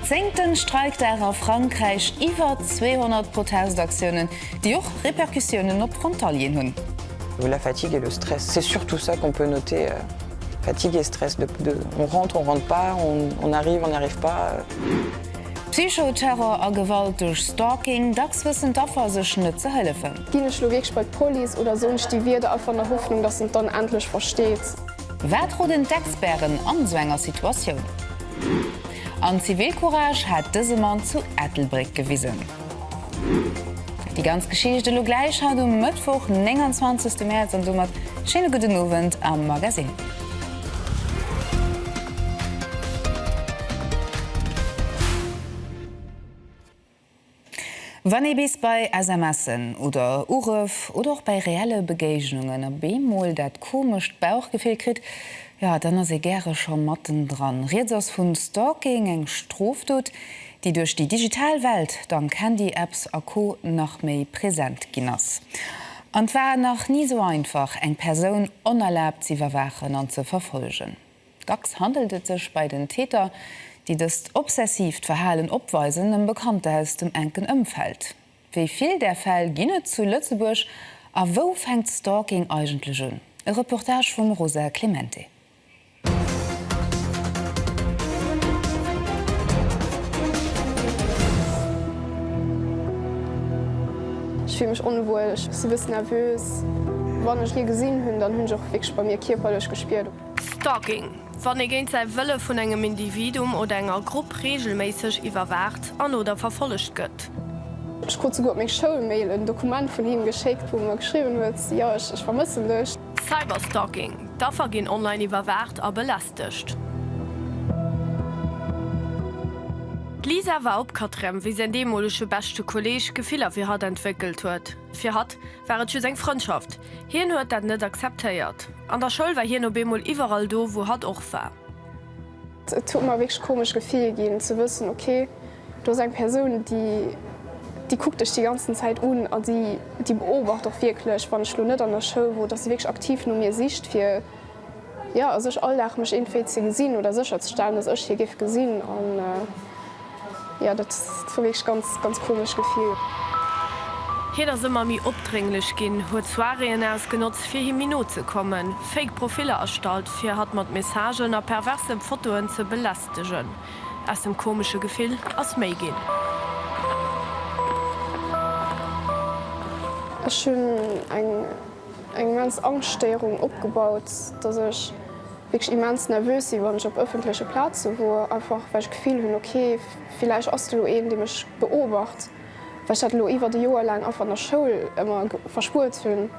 Zéngt den Streikdag a Frankräich, iwwer 200 Protestaktiounen, déi och Repercussiounen op Frontalieren hunn. Vu la fatigue et le stress, c'est surtout ça qu'on peut noter, fatigue et stress de de on rentre, on rentre pas, on on arrive, on n'arrive pas. Psycho-Terror a Gewalt duerch Stalking, dacks wëssen d'Affer sech net ze hëllefen. Ginn ech lo wierklech bei d'Police oder soen ech déi Wierder einfach an der Hoffnung, dass en dann endlech versteet? Wat roden d'Experten an esou enger Situatioun? An Zivilcourage hat dëse Mann zu Ettelbréck gewisen. Déi ganz Geschicht elo gläich haut um Mëttwoch 29 Mäerz an domat schéine gudden Owend am Magazine. Wann ee bis bei SMSen oder Urëff oder och bei reelle Begéignungen op eemol dat komescht Bauchgefill kritt, jo dann ass ee gäre scho mattendran. Rieds ass vun Stalking, eng Strofdot, déi duerch déi digital Welt, dank Handy-Apps a Co nach méi present ginn ass. An 't war nach ni sou einfach eng Persoun onerlaabt z'iwwerwaachen an ze verfolgen. Dacks handelt et sech bei den Täter, déi dëst obsessiivt Verhalen opweisen, ëm Bekannter aus dem enken Ëmfeld. Wéi vill där Fäll ginn et zu Lëtzebuerg a wou fänkt Stalking eigentlech un? E Reportage vum Rosa Clemente. Ech fille mech onwuel, ech si bëssen nervös. Wann ech hie gesinn hunn, dann hunn ech och wierklech bei mir kierperlech gespiert, Stalking, Wann ee géint säi Wëlle vun engem Individuum oder enger Grupp reegelméisseg iwwerwaacht an, oder verfollegt gëtt. Ech krut souguer op meng Schoulmail en Dokument vun him geschéckt, wou en mer geschriwwen huet, Jo, ech vermëssen dech. Cyberstalking, D'Affer ginn online iwwerwaacht a belästegt. D'Lisa war opkatrem, wéi säin deemolege beschte Kolleeg Gefiller fir hatt entwéckelt huet. Fir hatt war et just eng Frëndschaft. Hien huet dat net akzeptéiert. An der Schoul war hien op eemol iwwerall do, wou hatt och war. Et huet mer e wierklech komescht Gefill ginn, ze wëssen, okay, do ass eng Persoun, déi, déi kuckt dech déi ganzen Zäit un a déi, déi beobacht och wierklech, wann ech elo net an der Schoul wor, dass se wierklech aktiv no mir sicht, fir. Jo, a sech all Dag mech eentvee ze gesinn oder sécher ze stellen, dass ech hie géif gesinn. An jo, dat war wierklech ganz, ganz komescht Gefill. Hien ass ëmmer méi opdrénglech ginn, huet Soiréeën ausgenotzt, fir him méi no ze kommen, fake Profiller erstallt, fir hatt mat Messagen a perverse Fotoen ze belästegen. Aus dem komesche Gefill ass méi ginn. Ech hunn eng eng immens Angschtstéierung opgebaut, dass ech wierklech immens nervös si wann ech op ëffentleche Plaze wor, einfach well ech d'Gefill hunn, ok villäicht ass do elo een, dee mech beobacht, well ech dat elo iwwert e Joer laang einfach an der Schoul ëmmer verspuert hunn.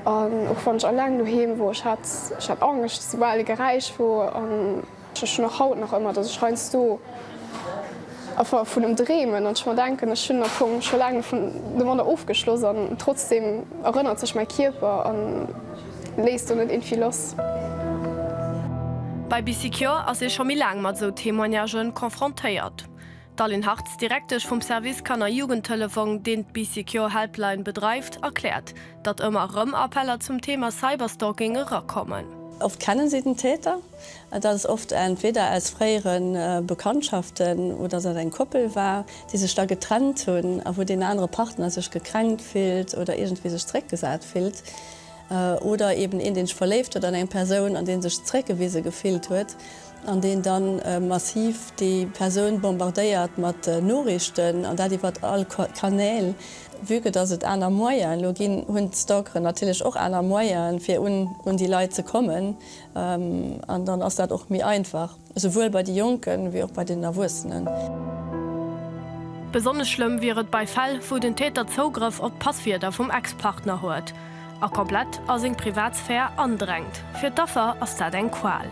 An och wann ech alleng doheem wor, ech hat Angscht, soubal e Geräisch wor. Ech hunn och haut nach ëmmer, dass ech heiansdo einfach vun em dreemen an ech mer denken, ech hunn am Fong scho laang domadder ofgeschloss an trotzdeem erënnert sech mäi Kierper a léisst do net irgendwie lass. Bei BicyCure ass ee scho méi laang mat esou Témoignagë confrontéiert. D'Aline Hartz, Direktesch vum Service Kanner Jugendtelefong, deen d'BicyCure Helpline bedreift, erkläert, datt ëmmer erëm Appeller zum Thema Cyberstalking erakommen. Oft kennen si den Täter. Et ass oft entweder aus fréiere Bekanntschaften oder dass et eng Koppel war, déi sech da getrennt hunn a wou deen anere Partner sech gekränkt fillt oder iergendwéi sech zeréckgesat fillt. Oder eeben een, dee sech verléift huet an eng Persoun an dee sech zeréckgewise gefillt huet an deen da massiv déi Persoun bombardéiert mat Noriichten an dat iwwert all Kanäl. Vue que dass et aner Moyen elo ginn, hunn d'Stalkeren natierlech och aner Moyen fir un déi Leit ze kommen. An dann ass dat och méi einfach, esouwuel bei de Jonken, wéi och bei den Erwuessenen. Besonnesch schlëmm wier et bei Fäll, wou den Täter Zougrëff op d'Passwierder vum Ex-Partner huet a komplett a seng Privatsphär andrängt. Fir d'Affer ass dat eng Qual.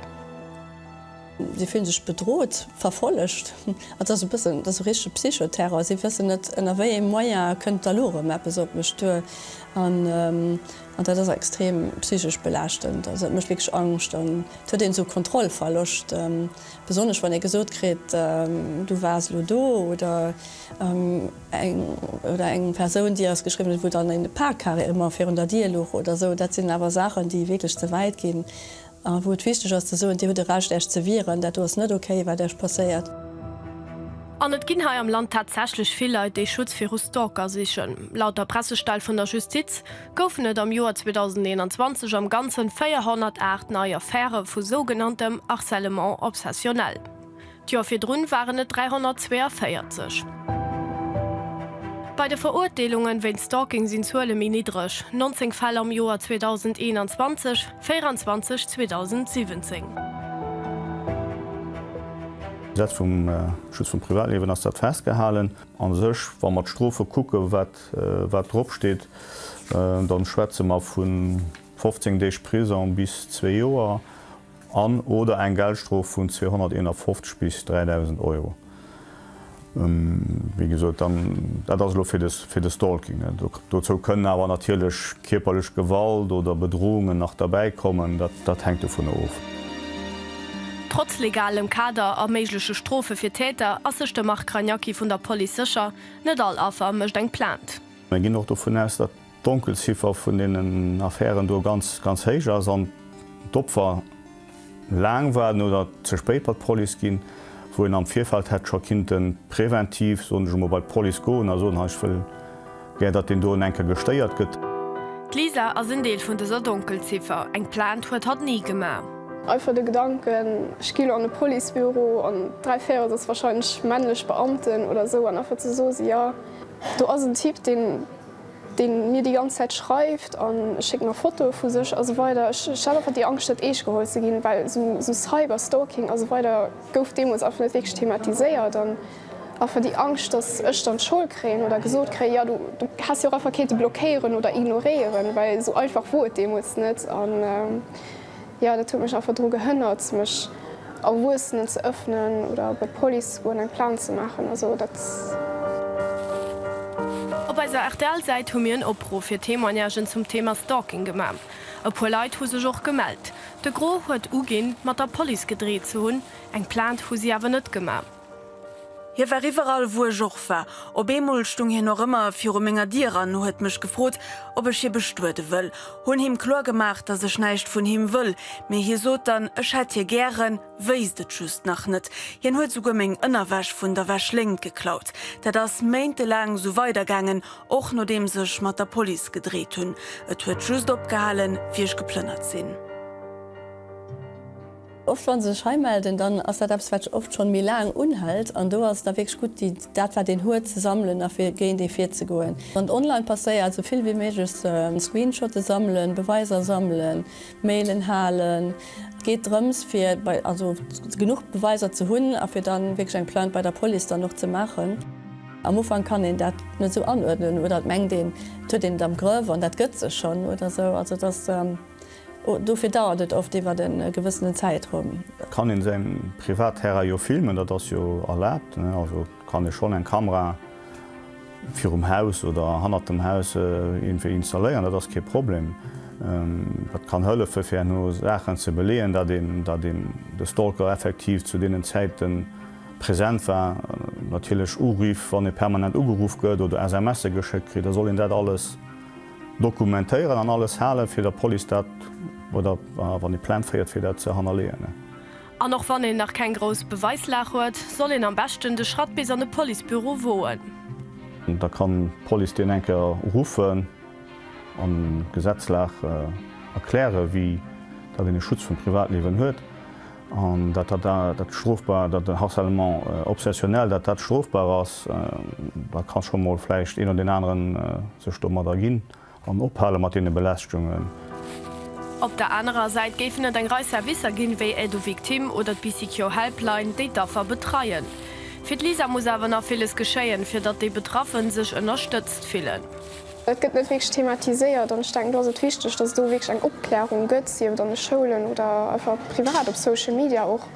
Si fillen sech bedrot, verfollegt. Dat ass e bëssen, dat ass esou richtege Psychoterror. Si wëssen net, ënner wéi ee Moyen kënnt d'Alurum eppes op mech duer. An dat ass extrem psychesch belaaschtend. Also dat mécht wierklech Angscht an et huet een esou Kontrollverloscht, besonnesch wann ee gesot kritt, du waars elo do oder eng oder eng Persoun déi eis geschriwwen huet, wou dann eng Parkkarre ëmmer virun der Dier luch oder esou. Dat sinn awer Saachen, déi wierklech ze wäit ginn. A wou et wichteg ass ze soen, Dir hutt e Recht Äech ze wieren, dat do ass net ok wat Äech passéiert. An et ginn hei am Land tatsächlech vill Leit, déi Schutz viru Stalker sichen. Laut der Pressestell vun der Justiz goufen et am Joer 2021 am Ganzen 408 nei Affäre vu sougenanntem Harcèlement obsessionnel. D'Joer virdrun waren et 342. Bei de Verurteelungen wéint Stalking sinn d'Zuele méi niddreg, 19 Fäll am Joer 2021, 24 2017. Dat vum Schutz vum Privatliewen ass dat festgehalen. A sech, wa mer d'Strofe kucken, wat wat drop steet, da schwätze mer vu 15 Deeg Prisong bis zwee Joer. an oder eng Geldstrof vun 251 bis 3.000 Euro, wéi gesot, dann, dat ass elo fir de, fir de Stalking. Dozou kënnen awer natierlech kierperlech Gewalt oder Bedrohungen nach derbäi kommen, dat, dat hänkt dovunner of. Trotz legalem Kader a méigleche Strofe fir Täter ass sech de Marc Ragnacky vun der Police sécher, Net all Affer mécht eng Plainte. Mir ginn och dovun aus, datt D'Donkelziffer vun deenen Affären do ganz, ganz héich ass an d'Opfer laang waarden oder ze spéit bei d'Police ginn, wou een am Virfeld hätt scho kinnte preventiv, soen ech emol, bei d'Police goen a soen, hei ech wëll gär, datt deen doen eng Kéier gestéiert gëtt. D'Lisa ass en Deel vun dëser Donkelziffer. Eng Plainte huet hatt ni gemaach. Einfach de Gedanken, ech gi lo an e Policebüro an dräi Véirels ass warscheinlech männlech Beamten oder esou an einfach ze soe si, jo do ass en Typ, deen deen mir déi ganz Zäit schreift an e schéckt mer Fotoe vu sech a sou weider. Ech hat einfach déi Angscht net eescht geholl ze ginn, well sou Cyber Stalking a sou weider gouf deemools einfach net wierklech thematiséiert an einfach déi Angscht, dass ech dann d'Schold kréien oder gesot kréien, jo du häss jo och einfach kennte blockéieren oder ignoréieren, well sou einfach wor et deemools net. Jo, dat huet mech einfach dru gehënnert, mech Erwuessenen ze ëffnen oder bei d'Police ze goen, eng Plainte ze maachen. Also dat. Op eiser RTL-Säit hu mir en Opruff fir Témoignagen zum Thema Stalking gemaach. E puer Leit hu sech och gemellt. De Gros huet uginn, mat der Police gedreet ze hunn, eng Plainte hu si awer net gemaach. Hie war iwwerall, wou ech och war. Op eemol stung hien och ëmmer viru menger Dier an huet mech gefrot, ob ech hie bestuede wëll. Hunn him kloer gemaach, dass ech näischt vun him wëll, mee hie sot dann, ech hätt hie gären, wéisst et just nach net. Hien huet souguer meng Ënnerwäsch vun der Wäschléngt geklaut. Dat ass méintelaang sou weidergaangen, och nodeems ech mat der Police gedreet hunn. Et huet just opgehalen, wéi ech geplënnert sinn. Oft wa se sech hei melden, dann ass dat eppes, wat oft schonn méi laang unhält. An do ass et da wierklech gutt, déi, dat wat een huet, ze sammelen a fir géint ee virzegoen. Wann et online passéiert, esou vill wéi méiglech ze screenshotten, sammelen, Beweiser sammelen, Mailen halen. Et geet drëms, fir bei, also genuch Beweiser ze hunn a fir dann wierklech eng Plainte bei der Police dann och ze maachen. Am Ufank kann een dat net esou anuerdnen oder et mengt een, et huet een et am Grëff an dat gëtt sech schonn oder esou. Also et ass. Dofir dauert et oft iwwert e gewëssenen Zäitraum. Et kann een säin Privatterrain jo filmen, dat ass jo erlaabt. Also kann ee schonn eng Kamera virum Haus oder hannert dem Haus iergendwéi installéieren, dat ass kee Problem. Dat kann hëllefen fir herno Saachen ze beleeën, dat een dat een de Stalker effektiv zu deenen Zäite present war. Natierlech Uriff, wann ee permanent ugeruff gëtt oder SMSe geschéckt kritt, da soll een dat alles. Dokumentéieren an alles halen, fir der Police dat, oder wann ee Plainte féiert, fir dat ze hannerleeën. An och wann een nach keng grouss Beweislag huet, soll een am beschten de Schratt bis an e Policebüro woen. Da kann d'Police deen eng Kéier ruffen an d'Gesetzlag erklären, wéi dat een e Schutz vum Privatliewen huet. An dat dat dat strofbar, dat harcèlement obsessionnel, dat dat strofbar ass, da ka scho mol vläicht een oder deen anere sech domat erginn an ophale mat deene Belästegungen. Op der anerer Säit géifen et eng Rei Servicer ginn, wéi Aide aux victimes oder d'Bicicjo Helpline, déi d'Affer betreien. Fir d'Lisa muss awer nach villes geschéien, fir datt déi Betraffen sech ënnerstëtzt fillen. Et gëtt net wierklech thematiséiert an ech denken, do ass et wichteg, dass et do wierklech eng Opklärung gëtt, sief et an de Schoulen oder einfach privat op Social Media och,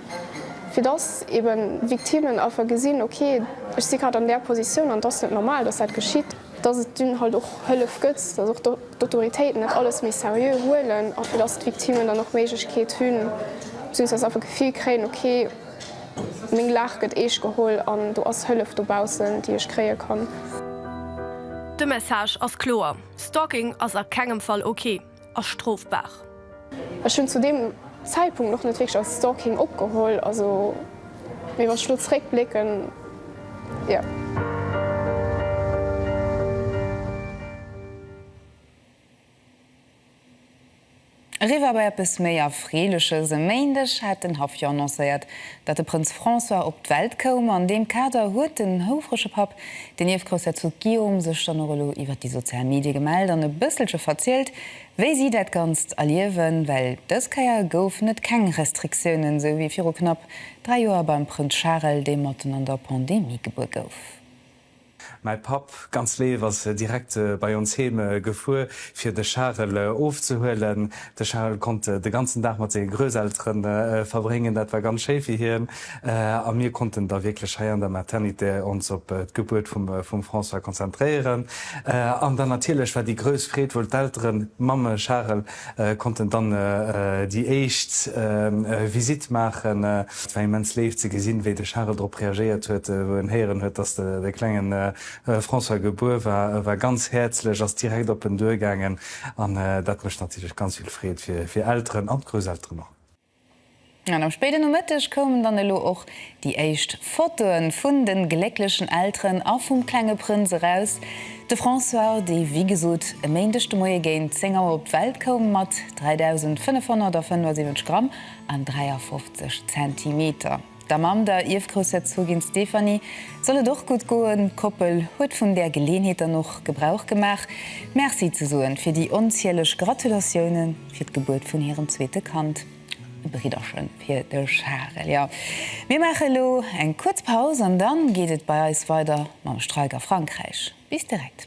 fir dass eebe Victimen einfach gesinn, ok, ech si grad an där Positioun an et ass net normal, dass dat geschitt. Dass et dunn halt och Hëllef gëtt, dass och d'Autoritéiten dat alles méi seriö huelen a fir dass d'Victimen dann och d'Méiglechkeet hunn, beziehungsweise einfach d'Gefill kréien, ok, Meng Laach gëtt eescht geholl an do ass Hëllef dobaussen, déi ech kréie kann. De Message ass kloer, Stalking ass a kengem Fall ok a strofbar. Ech hunn zu deem Zäitpunkt och net wierklech als Stalking opgeholl, also mee wann ech elo zeréckblécken, jo. Eriwwer bei eppes méi Erfreeleches, E Méindeg hat den Haff jo annoncéiert, datt de Prënz François op d'Welt koum. An deem Kader huet den houfrege Papp, den Ierfgroussherzog Guillaume, sech dann och elo iwwer déi sozial Medie gemellt an e bësselche verzielt, wéi si dat Ganzt erliewen. Well dës Kéier goufen et keng Restriktioune sou wéi viru knapp dräi Joer beim Prënz Charel, dee matten an der Pandemie gebuer gouf. Mäi Papp, ganz léif, ass direkt bei ons heem gefuer fir de Charel ofzehuelen. De Charel konnt de ganzen Dag mat senge Grousseltere verbréngen, dat war ganz schéi fir hien, a mir konnten da wierklech hei an der Maternité ons op d'Gebuert vum François konzentréieren. An dann natierlech war déi grouss Freed wuel d'Elteren, d'Mamme, Charel, konnten dann déi éischt Visitt maachen. Et war immens léif ze gesinn, wéi de Charel drop reagéiert huet, wou en héieren huet, dass de klengen François gebuer war. E war ganz häerzlech, ass direkt op en duergaangen an dat mécht natierlech ganz vill Freed fir Elteren an d'Grousselteren och. An am spéiden Nomëtteg koumen dann elo och déi éischt Fotoen vun den glécklechen Elteren a vum klenge Prënz eraus. De François, dee wéi gesot e Méindeg de Moie géint 10 Auer op d'Welt koum, mat 3.575 Gramm an 53 Zentimeter, Der Mamm, der Ierfgroussherzogin Stéphanie, soll et och gutt goen. D'Koppel huet vun där Geleenheet dann och Gebrauch gemaach, Merci ze soen fir déi onzieleg Gratulatioune fir d'Gebuert vun hirem zweete Kand. E Bridderche fir de Charel, jo. Mir maache elo eng kuerz Paus an da geet et bei eis weider mam Streik a Frankräich. Bis direkt.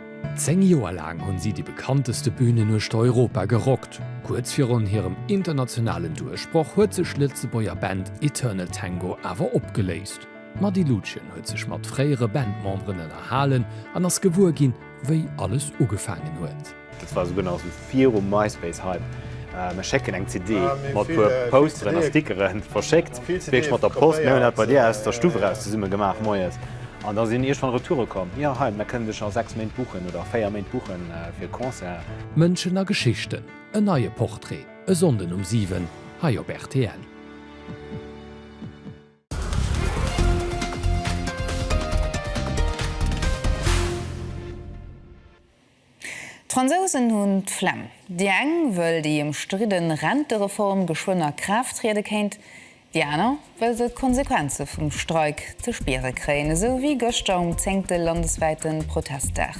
Zéng Joer laang hunn si déi bekannteste Bünen uechter Europa gerockt. Kuerz virun hirem internationalen Duerchbroch huet sech d'Lëtzebuerger Band Eternal Tango awer opgeléist. D'Mady Lutgen huet sech mat fréiere Bandmemberen ënnerhalen an ass gewuer ginn, wéi alles ugefaangen huet. Virum MySpace-Hype, Mir schécken eng CD mat puer Posteren a Stickeren, verschéckt kritt ech mat der Post. Mir hunn dat bei dir aus der Stuff eraus zesumme gemaach moies an da sinn iergendwann Retoure komm, jo hei, mir kënnen dech a 6 Méint buchen oder 4 Méint buchen fir e Concert. Mënschen a Geschichten, en neie Portrait, e Sonnden um 7, hei op rtl. D'Fransousen hunn d'Flemm. Déi eng wëll déi ëmstridde Rentereform geschwënn a Kraaft triede kéint, déi aner wëll se d'Konsequenze vum Streik ze spiere kréien, esou wéi gëschter um zéngte landeswäite Protestdag.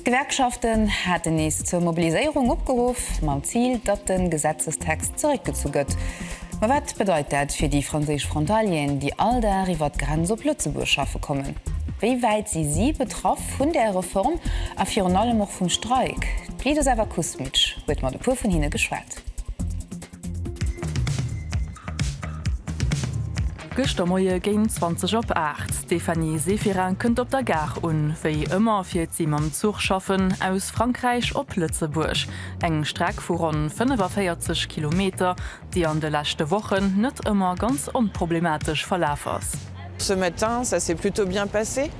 D'Gewerkschaften haten nees zur Mobiliséierung opgeruff, mam Zil, datt de Gesetzestext zeréckgezu gëtt. Ma wat bedeit dat fir déi franséisch Frontalieren, déi all Dag iwwer d'Grenz op Lëtzebuerg schaffe kommen? Wéi wäit si si betraff? Vun där Reform a virun allem och vum Streik. D'Lidoslava Kusmic huet mat e puer vun hinne geschwat. Gëschter Moie géint 20 op 8. D'Stéphanie Severin kënnt op der Gare un. Wéi ëmmer fiert si mam Zuch schaffen, aus Frankräich op Lëtzebuerg. Eng Streck vu ronn 45 Kilometer, déi an de leschte Wochen net ëmmer ganz onproblematesch verlaf ass. Ce matin ça s'est plutôt bien passé.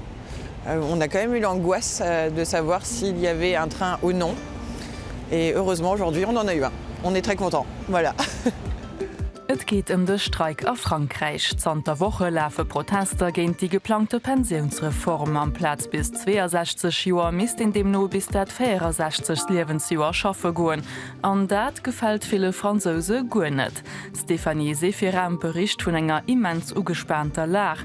On a quand même eu l'angoisse de savoir s'il y avait un train ou non et heureusement aujourd'hui on en a eu un. On est très content. Voilà. Et geet ëm de Streik a Frankräich. Zanter Woche lafe Protester géint déi geplangte Pensiounsreform. Amplaz bis 62 Joer misst een deemno bis dat 64. Liewensjoer schaffe goen. An dat gefält ville Fransouse guer net. D'Stéphanie Seferin bericht vun enger immens ugespaanter Lag.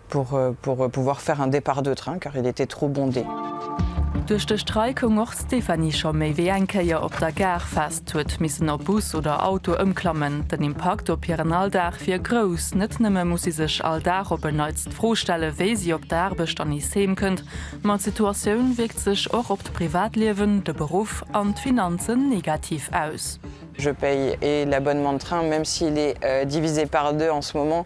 Pour pouvoir faire un départ de train car il était trop bondé. Duerch de Streik koum och d'Stéphanie scho méi wéi eng Kéier op der Gare fest, huet missen op Bus oder Auto ëmklammen. Den Impakt op hiren Alldag wier grouss. Net nëmme muss si sech all Dag op en Neits d'Fro stelle wéi si op der Aarbecht an nees heem kënnt, ma d'Situatioun wierkt sech och op d'Privatliewen, de Beruff an d'Finanzen negativ aus. Je paye et l'abonnement de train, même s'il est divisé par deux en ce moment,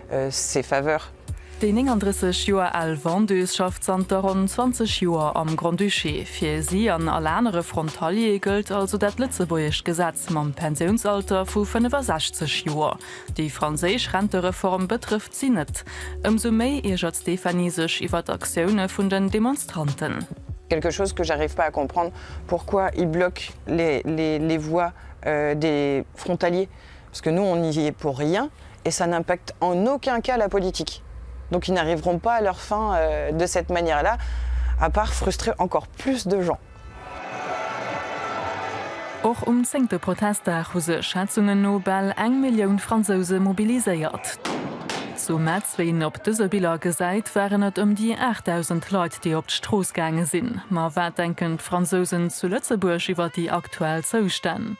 ses faveurs. Déi 39 Joer al Vendeuse schafft zanter ronn 20 Joer am Grand-Duché. Fir si an all anere Frontalier gëllt also dat lëtzebuergescht Gesetz mam Pensiounsalter vu 65 Joer. Déi franséisch Rentereform betrëfft si net. Ëmsou méi iergert d'Stéphanie sech iwwer d'Aktioune vun den Demonstranten. Quelque chose que j'arrive pas à comprendre, pourquoi ils bloquent les voies des frontaliers? Parce que nous, on y est pour rien et ça n'impacte en aucun cas la politique. Donc, ils n'arriveront pas à leurs fins de cette manière-là, à part frustrer encore plus de gens. Och um zéngte Protestdag hu sech Schätzungen no bal eng Millioun Fransouse mobiliséiert. Zu Metz, wéi een op dëse Biller gesäit, waren et ëm déi 8.000 Leit, déi op d'Strooss gaange sinn. Ma wat denken d'Fransousen zu Lëtzebuerg iwwer déi aktuell Zoustänn?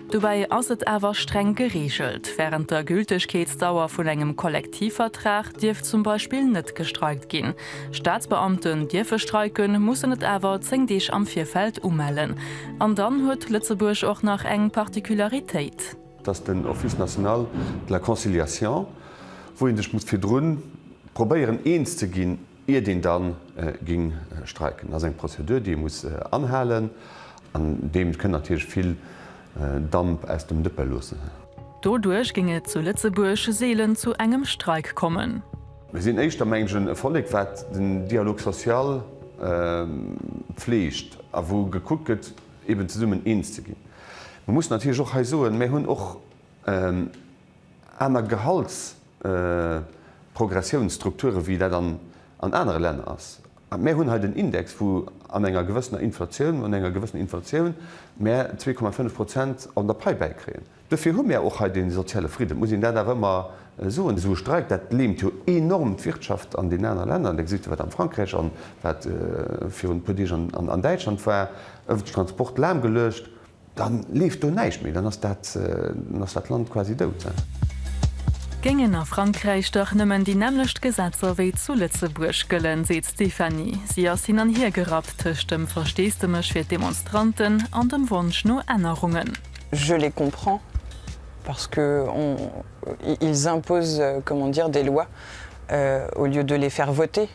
Dobäi ass et awer streng gereegelt. Wärend der Gültegkeetsdauer vun engem Kollektivvertrag dierf zum Beispill net gestreikt ginn. Staatsbeamten dierfe streiken, mussen et awer 10 Deeg am Virfeld umellen. An dann huet Lëtzebuerg och nach eng Particularitéit. Et ass den Office national de la conciliation, wou ee sech muss virdrun probéieren eens ze ginn, iert een dann ging streiken. Ass eng Prozedur déi ee muss anhalen an deem kënnt natierlech vill Damp aus dem Dëppe loossen. Doduerch ging et zu Lëtzebuerg seelen zu engem Streik kommen. Mir sinn éischter mengen e Vollek wat den Dialogue social pfleegt a wou gekuckt gëtt eben zesummen eens ze ginn. Mir mussen natierlech och hei soen, mir hunn och aner Gehaltsprogressiounsstrukture wéi dat an anere Länner ass. Mär hunn hei den Index, wou an enger gewëssener Inflatioun, an enger gewëssener Inflatioun mär 2,5 Prozent an der Pai bäikréien. Dofir hu mär och hei dee soziale Fridden, et muss een dat awer ëmmer soen. Esou e Streik, dat leemt jo enorm d'Wirtschaft an deenen anere Länner. Da gesitt Der, wat am Frankräich an wat virun e puer Deeg an Däitschland war, ëffentlech Transport lahmgeluecht. Dann leeft do näischt méi, dann ass dat Land quasi dout. Géingen a Frankräich dach nëmmen déi nämmlecht Gesetzer wéi zu Lëtzebuerg gëllen, seet d'Stéphanie. Si ass hin an hier gerappt tëscht dem Versteesdemech fir d'Demonstranten an dem Wonsch no Ännerungen. Je les comprends parce que on ils imposent comment dire des lois au lieu de les faire voter.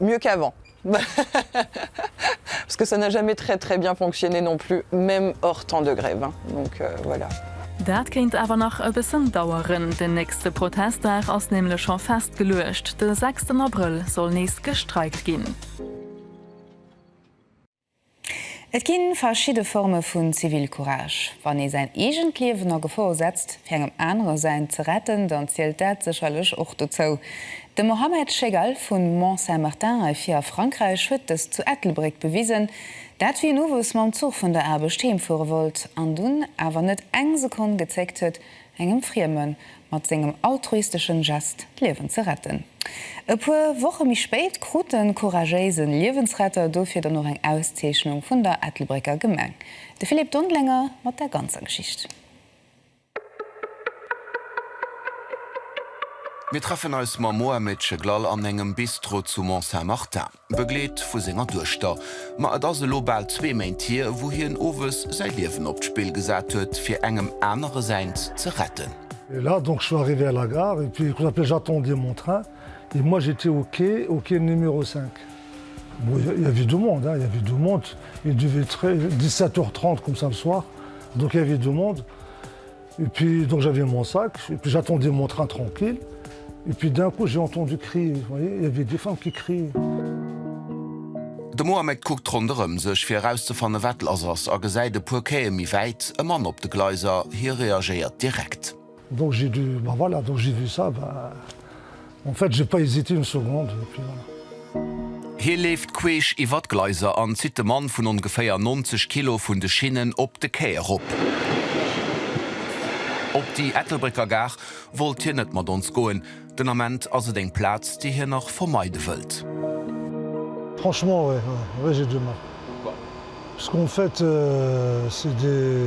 mieux qu'avant parce que ça n'a jamais très très bien fonctionné non plus, même hors temps de grève donc voilà. Dat kéint awer nach e bëssen daueren. Den nächste Protestdag ass nämlech scho festgeluecht, de sechsten Abrëll soll nees gestreikt ginn. Et ginn verschidde Forme vun Zivilcourage. Wann ee säin eegent Liewen a Gefor setzt, fir engem anere säint ze retten, dann zielt dat sécherlech och dozou. De Mohamed Chegal vu Mont-Saint-Martin hei vir a Frankräich huet dëst zu Ettelbréck bewisen. Dat wéi en owes mam Zuch vun der Aarbecht heemfuere wollt an dunn awer net eng Sekonn gezéckt huet, engem Frieme mat sengem altruisteschen Gest d'Liewen ze retten. E puer Woche méi spéit krut de couragéise Liewensretter dofir dann och eng Auszeechnung vun der Ettelbrécker Gemeng. De Philippe Dondlenger mat der ganzer Geschicht. Mir treffen eis mam Mohamed Cheglal an engem Bistro zu Mont-Saint-Martin. Begleet vu senger Duechter. Ma et ass elo bal zwee Méint hier, wou hien owes säi Liewen op d'Spill gesat huet, fir engem anere säint ze retten. Et là donc je suis arrivé à la gare et puis j'appelais j'attendiez mon train et moi j'étais au quai au quai numéro 5 bon il il y avait du monde hein il y avait du monde il devait être 17 heures 30 comme ça le soir donc il y avait du monde Et puis donc j'avais mon sac et puis j'attendais mon train tranquille et puis d'un coup j'ai entendu crier vous voyez il y avait des femmes qui criaient. De Mohamed kuckt ronderëm sech fir erauszefanne wat lass ass a gesäit e puer Quaie méi wäit e Mann op de Gleiser. Hie reagéiert direkt. Donc j'ai dû, ben voilà, donc j'ai vu ça, ben En fait, j'ai pas hésité une seconde, et puis voilà. Hie leeft queesch iwwer d'Gleiser an zitt de Mann vun ongeféier 90 Kilo vun de Schinnen op de Quai erop. Op déi Ettelbrécker Gare wollt hien net mat ons goen, den Ament ass et eng Plaz, déi hien nach vermeide wëllt. Franchement, ouais, ouais j'ai du mal. Pourquoi? Parce qu'en fait, c'est des.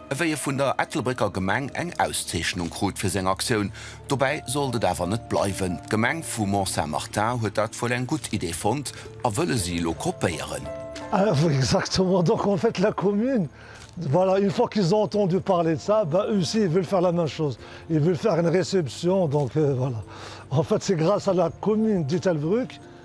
Ewéi e vun der Ettelbrécker Gemeng eng Auszeechnung krut fir seng Aktioun. Dobäi sollt et awer net bleiwen. D'Gemeng vu Mont-Saint-Martin huet dat wuel eng gutt Idee fonnt a wëlle si elo kopéieren. Oui, exactement, donc en fait la commune, voilà, une fois qu'ils ont entendu parler de ça, ben eux aussi ils veulent faire la même chose, ils veulent faire une réception, donc voilà, en fait c'est grâce à la commune d'Ettelbruck,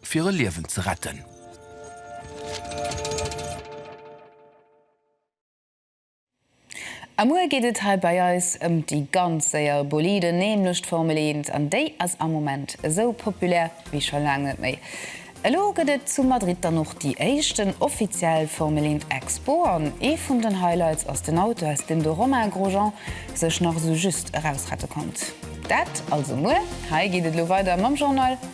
fir e Liewen ze retten. A muer geet et hei bei eis ëm déi ganz séier Boliden, nämlech d'Formel Eent. An déi ass am Moment esou populär wéi scho laang net méi. Elo gëtt et zu Madrid dann och déi éischten offiziell Formel Eent Expo. An ee vun den Highlights ass den Auto, aus deem de Romain Grosjean sech nach esou just erausrette konnt. Dat also muer. Hei geet et elo weider mam Journal.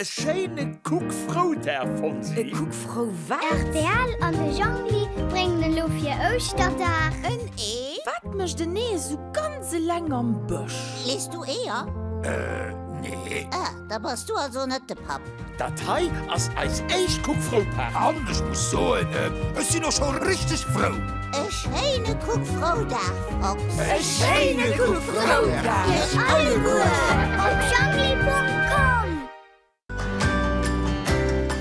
E schéine Kuck frou Dag Fonsi. E Kuck frou wat? Rtl an de Jhongli bréngen elo fir Ouschterdag. En Ee? Wat mécht en Ee esou ganz eleng am Bësch? Lees du Eeër? Äh, nee. Ah, da bass du also net de Papp. Dat hei ass eis éischt Kuck frou Paart. An ech muss soen, ech sinn och scho richteg frou. E schéine Kuck Froudag, Fox. E schéine Kuck Froudag iech alleguer op Jungli.com.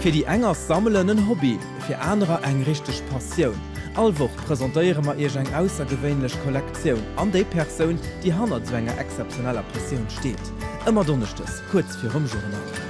Fir déi eng ass Sammelen en Hobby, fir anerer eng richteg Passioun. All Woch presentéiere mer iech eng aussergewéinlech Kollektioun an déi Persoun, déi hannert esou enger exzeptioneller Passioun steet. Ëmmer Donneschdes kuerz virum Journal.